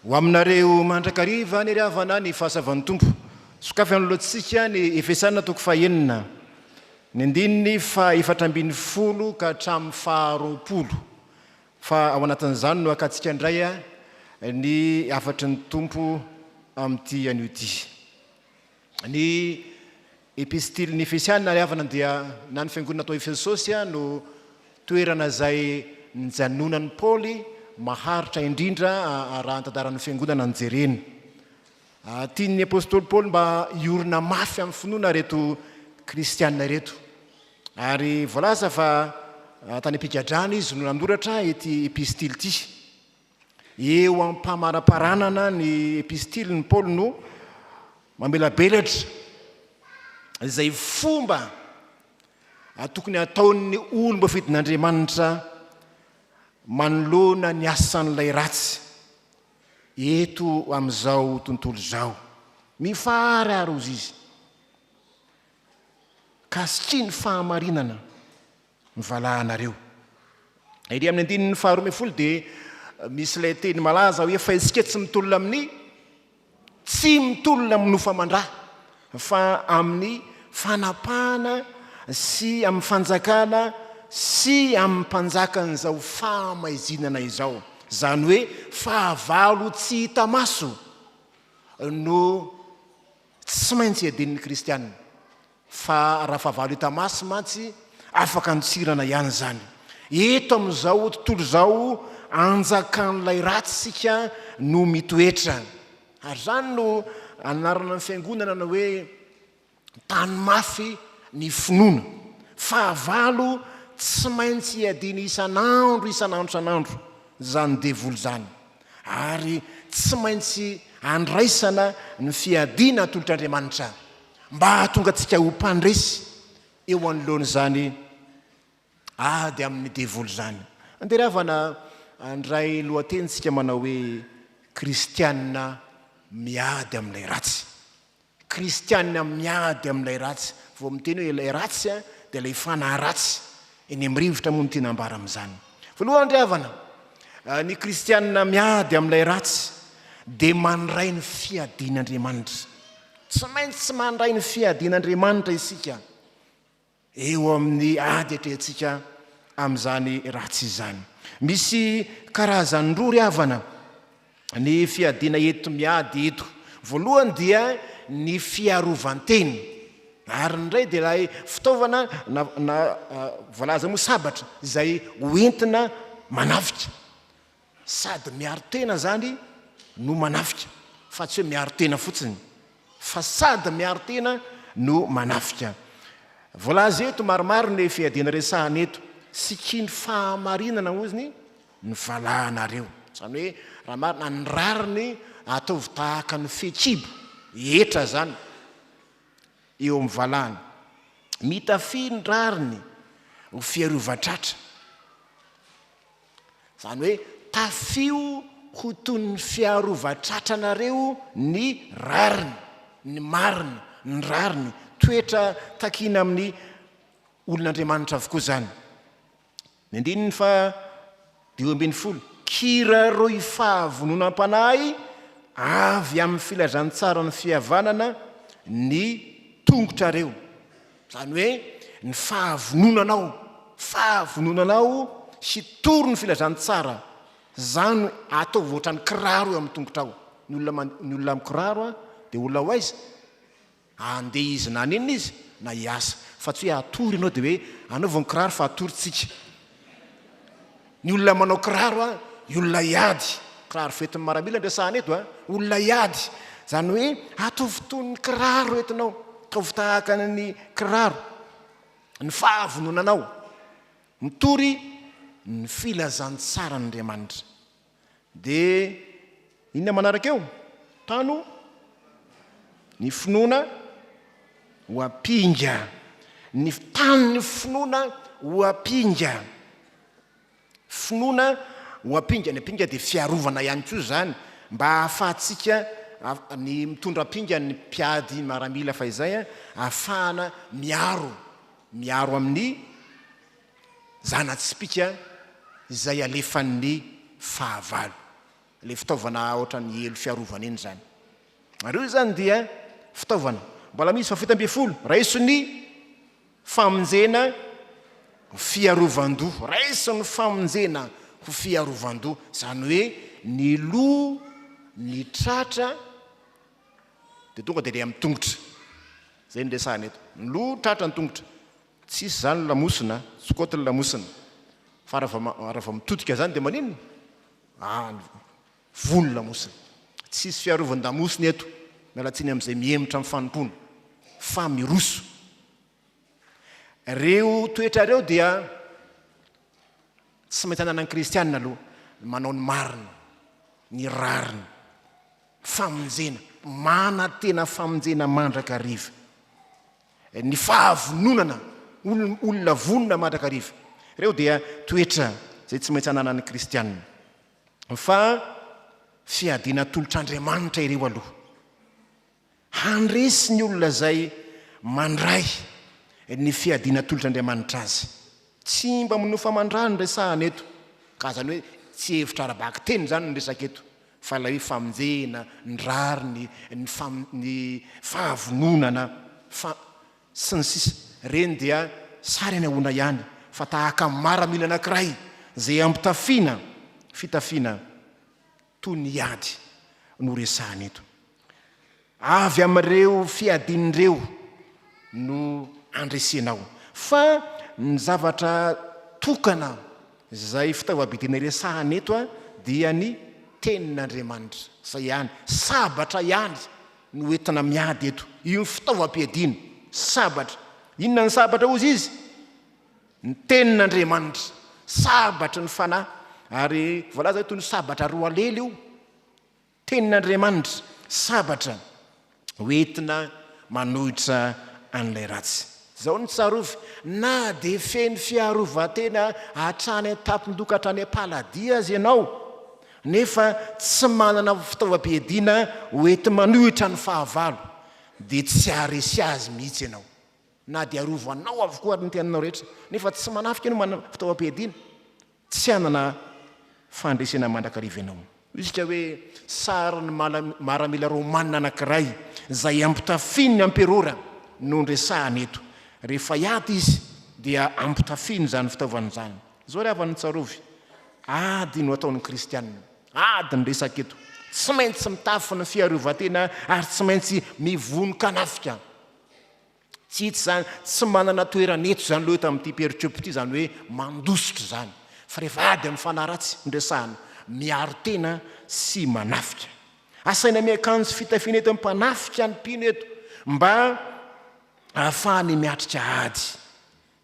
Ho aminareo mandrakariva ny ry havana ny fahasavan'ny Tompo. Sokafy anoloantsika ny Efesana toko fahenina, ny andininy faha efatra ambin'ny folo ka hatramin'ny faha roapolo. Fa ao anatin'izany no hakantsika indray ny hafatry ny Tompo amin'ity anio ity. Ny Epistilin'ny Efesiana ary havana dia na ny fiangonana tao Efesosy no toerana izay nijanonan'i Paoly maharitra indrindra raha ny tantaran'ny fiangonana no jerena. Tian'ny apostoly Paoly mba hiorina mafy amin'ny finoana ireto kristiana ireto. Ary voalaza fa tany am-pigadrana izy no nanoratra ity epistily ity. Eo am-pamaraparanana ny epistiliny, Paoly no mamelabelatra izay fomba tokony hataon'ny olom-boafidin'Andriamanitra manoloana ny asan'ilay ratsy eto amin'izao tontolo izao. Mifahararo, hozy izy, ka asitria ny fahamarinana ny valahanareo. Ery amin'ny andininy faharoa ambin'ny folo dia misy ilay teny malaza hoe fa isika tsy mitolona amin'ny tsy mitolona amin'ny nofamandra fa amin'ny fanapahana sy amin'ny fanjakana sy amin'ny mpanjakan'izao fahamaizinana izao izany hoe fahavalo tsy hita maso no Tsy maintsy adinon'ny kristiana fa Rafahavalo Itamasy mantsy afaka antsirana ihany izany. Eto amin'izao tontolo izao anjakan'ilay ratsy isika no mitoetra. Ary izany no anarana ny fiangonana na hoe tany mafy ny finoana. Fahavalo tsy maintsy iadiana isan'andro isan'andro isan'andro izany devoly izany. ary tsy maintsy andraisana ny fiadiana atolotr'Andriamanitra mba hahatonga antsika ho mpandresy eo anoloan'izany ady amin'ny devoly izany. Andeha ry havana handray lohatenintsika manao hoe Kristianina miady amin'ilay ratsy. Kristianina miady amin'ilay ratsy. Vao miteny hoe ilay ratsy dia ilay fanahy ratsy. Eny amin'ny rivotra moa no tiana ambara amin'izany. Voalohany ry havana, ny kristianina miady amin'ilay ratsy dia mandray ny fiadian'Andriamanitra. Tsy maintsy mandray ny fiadian'Andriamanitra isika. Eo amin'ny ady atrehintsika amin'izany ratsy izany. Misy karazany roa ry havana ny fiadiana eto miady eto. Voalohany dia ny fiarovan-tena. Ary ny iray dia ilay fitaovana na na voalaza moa sabatra izay hoentina manafika. Sady miaro tena zany no manafika fa tsy hoe miaro tena fotsiny fa sady miaro tena no manafika. Voalaza eto maromaro ny fiadiana resahana eto. Sikin'ny fahamarinana hozy ny valahanareo. Zany hoe raha marina ny rariny ataovy tahaka ny fehikibo hetra zany eo amin'ny valahana. Mitafia ny rariny ho fiarovan-tratra. Izany hoe tafio ho toy ny fiarovan-tratranareo ny rariny, ny marina, ny rariny. Toetra takiana amin'ny olon'Andriamanitra avokoa izany. Ny andininy fahadimy ambin'ny folo, Kiraroy fahavononam-panahy avy amin'ny filazantsaran'ny fihavanana ny tongotrareo. Izany hoe ny fahavononanao, fahavononanao hitory ny filazantsara, izany ataovy ohatran'ny kiraro eo amin'ny tongotrao. Ny olona ny olona mikiraro dia olona ho aiza? Andeha izy na haninona izy na hiasa. Fa tsy hoe hatory ianao dia hoe anaovy ny kiraro fa hatory tsika. Ny olona manao kiraro a, ny olona hiady, kiraro fetin'ny maramila no resahana eto a, olona hiady, izany hoe ataovy toy ny kiraro entinao, ataovy tahaka ny kiraro ny fahavononanao mitory ny filazantsaran'Andriamanitra. Dia inona manaraka eo? Tano, ny finoana ho ampinga. Ny tano ny finoana ho ampinga. Finoana ho ampinga, ny ampinga dia fiarovana ihany koa izany mba hahafahantsika ny mitondra ampinga ny mpiady maramila fahizay hahafahana miaro, miaro amin'ny zana-tsipìka izay alefan'ny fahavalo, ilay fitaovana ohatran'ny elo fiarovana iny izany, ary io izany dia fitaovana mbola misy vao fito ambin'ny folo, raiso ny famonjena ho fiarovan-doha, raiso ny famonjena ho fiarovan-doha, izany hoe ny loha, ny tratra, dia tonga dia ilay amin'ny tongotra, izay no resahana eto, ny loha, ny tratra, ny tongotra. Tsisy zany lamosina a! Tsy côte ny lamosina. Fa raha vao raha vao mitodika zany dia maninona? Any voa ny lamosina. Tsisy fiarovan-damosina eto. Miala tsiny amin'izay mihemotra amin'ny fanompoana. Fa miroso. Reo toetra reo dia tsy maintsy ananan'ny kristiana aloha. Ny manao ny marina. Ny rariny. Famonjena. Manantena famonjena mandrakariva. ny fahavononana, olona vonona mandrakariva. Ireo dia toetra izay tsy maintsy ananan'ny kristianina. Fa fiadiana atolotr'Andriamanitra ireo aloha. Handresy ny olona izay mandray ny fiadiana atolotr'Andriamanitra azy. Tsy mba minoa famandràna no resahana eto, ka izany hoe tsy hevitra ara-bakiteny izany no resaka eto. Fa ilay hoe famonjena, ny rariny, ny fam, ny fahavononana, fa. Sy ny sisa. Ireny dia sary anehoana ihany fa tahaka ny maramila anankiray izay ampitafiana fitafiana toy ny ady no resahana eto. Avy amin'ireo fiadiana ireo no andresenao. Fa ny zavatra tokana izay fitaovam-piadiana iresahana eto dia ny Tenin'Andriamanitra. Izay ihany. Sabatra ihany no entina miady eto. Io ny fitaovam-piadiana. Sabatra. Inona ny sabatra hozy izy? Ny Tenin'Andriamanitra. Sabatry ny fanahy. Ary voalaza eto ny sabatra roa lely io. Tenin'Andriamanitra, sabatra ho entina manohitra an'ilay ratsy. Izao no tsarovy, na dia feno fiarovan-tena hatrany an-tampon-doha ka hatrany am-paladia aza ianao, nefa tsy manana fitaovam-piadiana ho enti-manohitra ny fahavalo, dia tsy haharesy azy mihitsy ianao. Na dia arovanao avokoa ary ny tenanao rehetra, nefa tsy manafika ianao manana fitaovam-piadiana, Tsy hanana fandresena mandrakariva ianao. Midika hoe sarin'ny maramila romanina anankiray izay ampitafian'ny amperora no noresahana eto. Rehefa hiady izy dia ampitafiany izany fitaovana izany. Izao ry havana tsarovy, ady no ataon'ny kristiana. Ady no resaka eto. Tsy maintsy mitafy ny fiarovan-tena ary tsy maintsy mivonon-kanafika. Tsy hita izany, tsy manana toerana eto izany loha eto amin'ity pericope ity izany hoe mandositra izany, fa rehefa ady amin'ny fanahy ratsy no resahana, miaro tena sy manafika. Asaina miakanjo fitafiana eto ny mpanafika ny mpino eto mba ahafahany miatrika ady.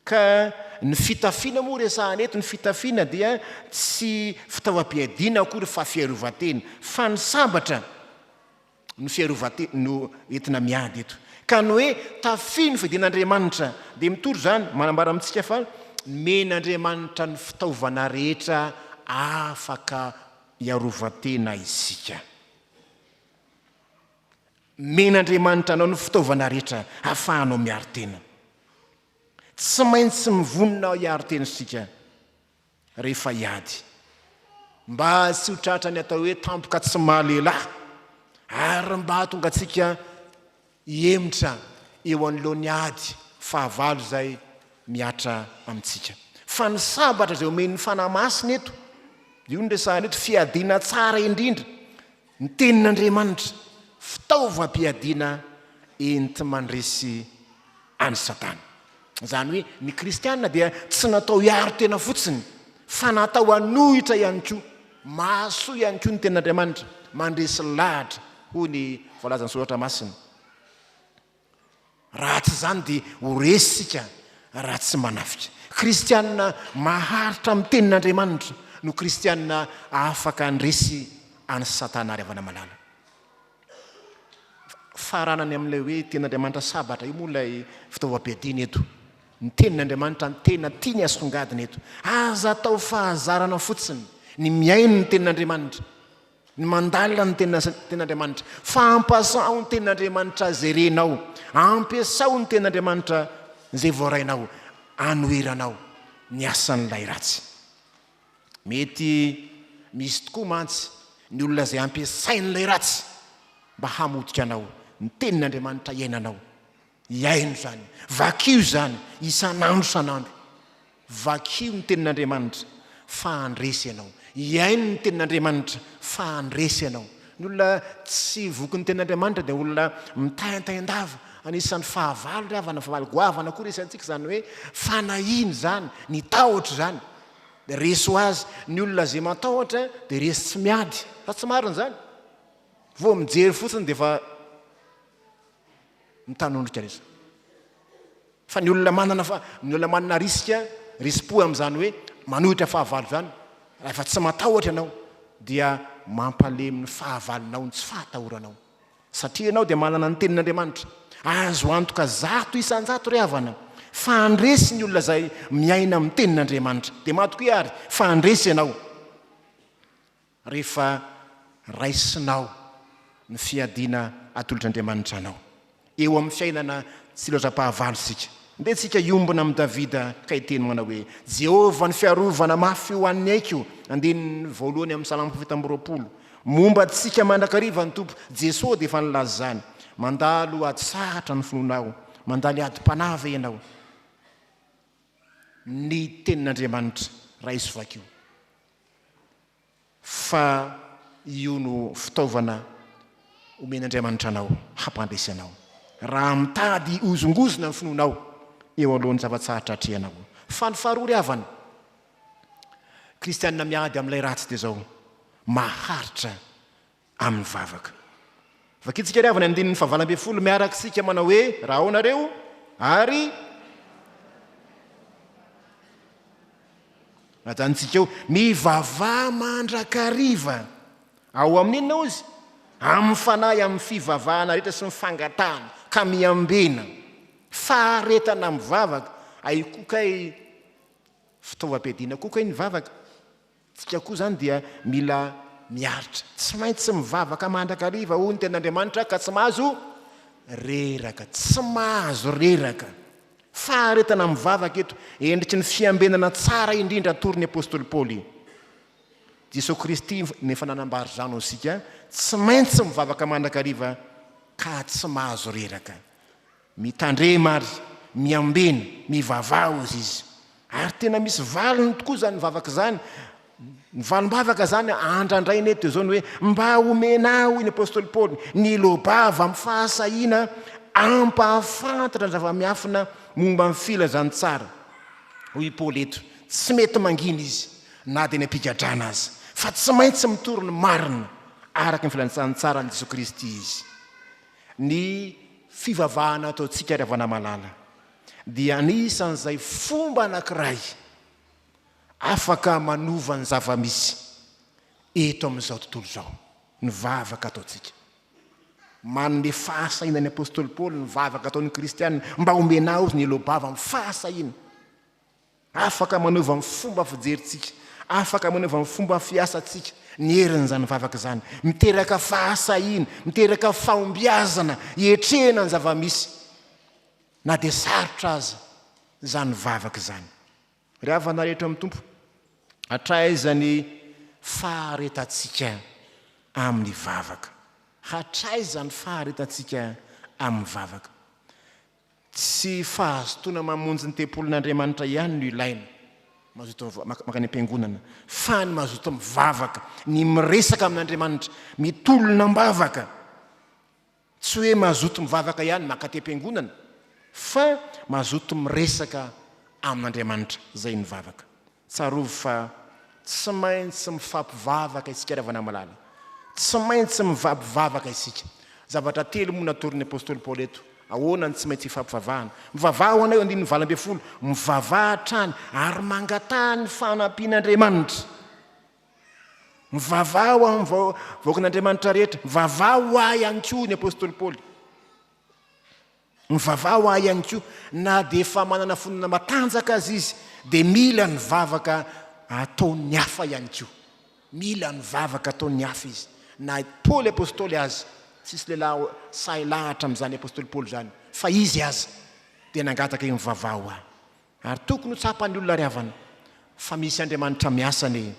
Ka ny fitafiana moa resahana eto, ny fitafiana dia tsy fitaovam-piadiana akory fa fiarovan-tena, fa ny sambatra, no fiarovan-tena no entina miady eto. Ka ny hoe tafio ny fidin'Andriamanitra dia mitory izany, manambara amintsika fa nomen'Andriamanitra ny fitaovana rehetra afaka hiarovan-tena isika. Nomen'Andriamanitra anao ny fitaovana rehetra ahafahanao miaro tena. Tsy maintsy mivonona hiaro tena isika. rehefa hiady. Mba tsy ho tratra ny atao hoe tampoka tsy maha lehilahy ary mba hahatonga antsika hihemotra eo anoloan'ny ady fahavalo izay mihatra amintsika. Fa ny sabatra izay omen'ny Fanahy Masina eto, io no resahana eto, fiadiana tsara indrindra. Ny Tenin'Andriamanitra, fitaovam-piadiana enti-mandresy an'i Satana. Izany hoe ny kristiana dia tsy natao hiaro tena fotsiny, fa natao hanohitra ihany koa. Mahasoa ihany koa ny Tenin'Andriamanitra, mandresy lahatra, hoy ny voalazan'ny Soratra Masina. Raha tsy izany dia ho resy isika raha tsy manafika. Kristianina maharitra amin'ny Tenin'Andriamanitra no kristianina afaka handresy an'i Satana ary havana malala. Faranany amin'ilay hoe Tenin'Andriamanitra sabatra io moa ilay fitaovam-piadiana eto. Ny Tenin'Andriamanitra no tena tiany hasongadina eto. Aza atao fahazarana fotsiny ny mihaino ny Tenin'Andriamanitra. Ny mandalina ny Tenin'Andriamanitra. Fampasaho ny Tenin'Andriamanitra izay renao. Ampiasao ny Tenin'Andriamanitra izay voarainao anoheranao ny asan'ilay ratsy. Mety misy tokoa mantsy ny olona izay ampiasain'ilay ratsy mba hamotika anao ny Tenin'Andriamanitra iainanao. Hihaino izany. Vakio izany isan'andro isan'andro. Vakio ny Tenin'Andriamanitra fa handresy ianao. Hihaino ny Tenin'Andriamanitra fa handresy ianao. Ny olona tsy voky ny Tenin'Andriamanitra dia olona mitaintain-dava. Anisan'ny fahavalo ry havana, fahavalo goavana koa resahintsika izany hoe fanahiana izany, ny tahotra izany. Dia resy ho azy. Ny olona izay matahotra dia resy tsy miady. Sa tsy marina izany? Vao mijery fotsiny dia efa. mitanondrika lesa. Fa ny olona manana fa ny olona manana risika risi-po amin'izany hoe manohitra fahavalo izany, rahefa tsy matahotra ianao dia mampalemy ny fahavalonao ny tsy fahatahoranao. Satria ianao dia manana ny tenin'Andriamanitra. Azo antoka zato isan-jato ry havana fa handresy ny olona izay miaina amin'ny tenin'Andriamanitra. Dia matokia àry fa handresy ianao. Rehefa raisinao ny fiadiana atolotr'Andriamanitra anao eo amin'ny fiainana tsy loatra-pahavalo isika, dia tsika hiombona amin'i Davida ka hiteny manao hoe, Jehovah no fiarovana mafy ho an'ny aiko, andininy voalohany amin'ny Salamo fito amby roapolo. Momba antsika mandrakariva ny Tompo, Jesoa dia efa nilazany, Mandalo atsahatra ny finoanao, mandany adim-panahy ve ianao? Ny tenin'Andriamanitra, raiso vakio. fa io no fitaovana omen'Andriamanitra anao hampandresy anao raha mitady hihozongozona ny finoanao eo anoloan'ny zava-tsarotra atrehanao. Fa ny faharoa ry havana kristiana miady amin'ilay ratsy dia izao, maharitra amin'ny vavaka. Vakintsika ary havana ny andininy fahavalo ambin'ny folo miaraka isika manao hoe raha ao nareo ary najanontsika eo mivavaha mandrakariva ao amin'ny inona ozy amin'ny fanahy amin'ny fivavahana rehetra sy ny fangatahana ka miambena faharetana amin'ny vavaka ay koka ay fitaovam-piadiana koka ay ny vavaka Tsika koa izany dia mila miaritra. Tsy maintsy mivavaka mandrakariva hoy ny tenin'Andriamanitra ka tsy mahazo reraka. Tsy mahazo reraka. Faharetana mivavaka eto, endriky ny fiambenana tsara indrindra atoron'ny apostoly Paoly. Jesoa Kristy no efa nanambara izany ho antsika, tsy maintsy mivavaka mandrakariva ka tsy mahazo reraka. Mitandrema ary miambena, mivavaha hozy izy. Ary tena misy valiny tokoa izany vavaka izany. Ny valim-bavaka izany andrandraina eto dia izao ny hoe, Mba omena ahy, hoy ny apostoly Paoly, ny loa-bava amin'ny fahasahiana hampahafantatra ny zava-miafina momba ny filazantsara. Hoy i Paoly eto, tsy mety mangina izy, na dia any am-pigadrana aza, fa tsy maintsy mitory ny marina araka ny filazantsara an'i Jesoa Kristy izy. Ny fivavahana ataontsika ry havana malala dia anisan'izay fomba anankiray afaka manova ny zava-misy eto amin'izao tontolo izao ny vavaka ataontsika. Manome fahasahiana ny apostoly Paoly ny vavaka ataon'ny kristiana mba omena azy ny elo-bava amin'ny fahasahiana. Afaka manova ny fomba fijerintsika, afaka manova ny fomba fiasantsika ny herin'izany vavaka izany. Miteraka fahasahiana, miteraka fahombiazana hiatrehana ny zava-misy, na dia sarotra aza izany vavaka izany. Ry havana rehetra amin'ny Tompo, hatraiza ny faharetantsika amin'ny vavaka? Hatraiza ny faharetantsika amin'ny vavaka? Tsy fahazotoana mamonjy ny tempolin'Andriamanitra ihany no ilaina, mazotoa mankany am-piangonana, fa ny mazotoa mivavaka, ny miresaka amin'Andriamanitra, mitolona am-bavaka. Tsy hoe mazoto mivavaka ihany mankaty am-piangonana, fa mazoto miresaka amin'Andriamanitra, izay ny vavaka. Tsarovy fa tsy maintsy mifampivavaka isika ry havana malala. Tsy maintsy mifampivavaka isika. Zavatra telo moa no natorin'ny apostoly Paoly eto. Ahoana no tsy maintsy hifampivavahana? Mivavaha ho anay eo andininy valo ambin'ny folo. Mivavaha hatrany ary mangataha ny fanampian'Andriamanitra. Mivavaha ho amin'ny vahoakan'Andriamanitra rehetra. Mivavaha ho ahy ihany koa ny apostoly Paoly. Mivavaha ho ahy ihany koa. Na dia efa manana finoana matanjaka aza izy, dia mila ny vavaka ataon'ny hafa ihany koa. Mila ny vavaka ataon'ny hafa izy. Na i Paoly apostoly aza, tsisy lehilahy sahy lahatra amin'izany apostoly Paoly izany, fa izy aza dia nangataka hoe, Mivavaha ho ahy. Ary tokony ho tsapan'ny olona ry havana fa misy Andriamanitra miasa anie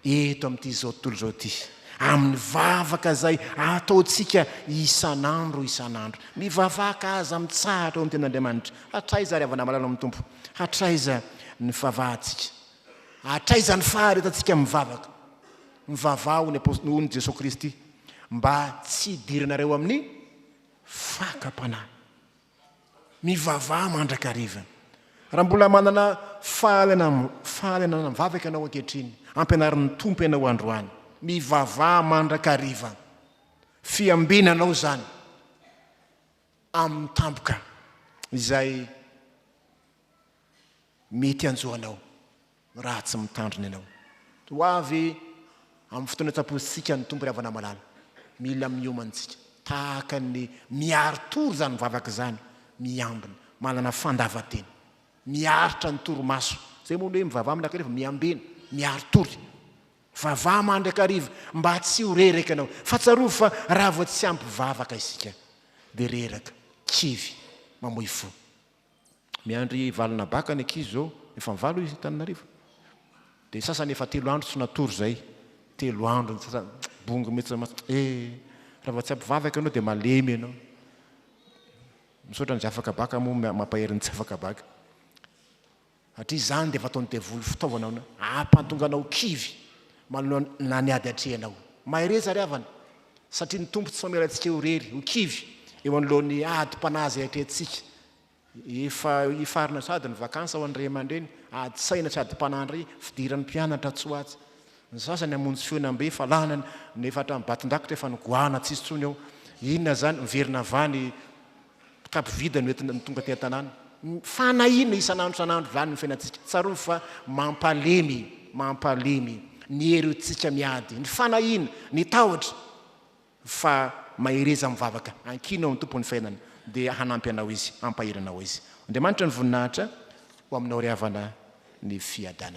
eto amin'ity izao tontolo izao ity, amin'ny vavaka izay ataontsika isan'andro isan'andro. Mivavaka aza mitsahatra eo amin'ny tenin'Andriamanitra. Hatraiza ry havana malala ao amin'ny Tompo? Hatraiza ny fivavahantsika? Hatraiza ny faharetantsika mivavaka? Mivavaha hoy ny Apostoly, hoy ny Jesoa Kristy, mba tsy hidiranareo amin'ny fakam-panahy. Mivavaha mandrakariva. Raha mbola manana fahalianana mivavaka ianao ankehitriny, ampianarin'ny Tompo ianao androany. Mivavaha mandrakariva. Fiambiana anao izany amin'ny tampoka izay mety hanjo anao. Raha tsy mitandrina ianao. Ho avy amin'ny fotoana tsapointsika ny Tompo ry havana malala. Mila miomana isika tahaka ny miaro tory izany vavaka izany, miambina, manana fandavan-tena, miaritra ny torimaso. Izay moa no hoe mivavaha mandrakariva, miambena, miaro tory. Vavaha mandrakariva mba tsy ho reraka ianao. Fa tsarovy fa raha vao tsy ampy vavaka isika dia reraka, kivy, mamoy fo. Miandry valona baka ny ankizy zao, efa mivalo izy Antananarivo. Dia sasany efa telo andro tsy natory zay, telo andro ny sasany, bongo mihitsy ma, eh! Raha vao tsy ampivavaka ianao dia malemy ianao. Misaotra an'izay afaka baka moa mampahery ny tsy afaka baka. Satria izany dia efa ataon'ny devoly fitaovana hahampantonga anao kivy manoloana ny ady atrehinao. Mahereza ry havana, satria ny Tompo tsy mamela antsika ho irery, ho kivy eo anoloan'ny adim-panahy izay atrehintsika. Efa hifarana sady ny vakansa ho an'ny ray aman-dreny, ady saina sy adim-panahy indray, fidiran'ny mpianatra tsy ho atsy. Ny sasany hamonjy fihaonambe fa lany ny efa hatramin'ny Batondrakitra, efa nigoahana tsy hisy intsony ao. Inona izany? Miverina avy any. kitapo vide no entina no tonga aty an-tanàna. Fanahiana isan'andro isan'andro izany ny fiainantsika. Tsarovy fa mampalemy, mampalemy ny hery hoentintsika miady, ny fanahiana, ny tahotra. Fa mahereza mivavaka, ankino amin'ny Tompon'ny fiainana dia hanampy anao Izy, hampahery anao Izy. Andriamanitra ny voninahitra ho aminao ry havana ny fiadanana.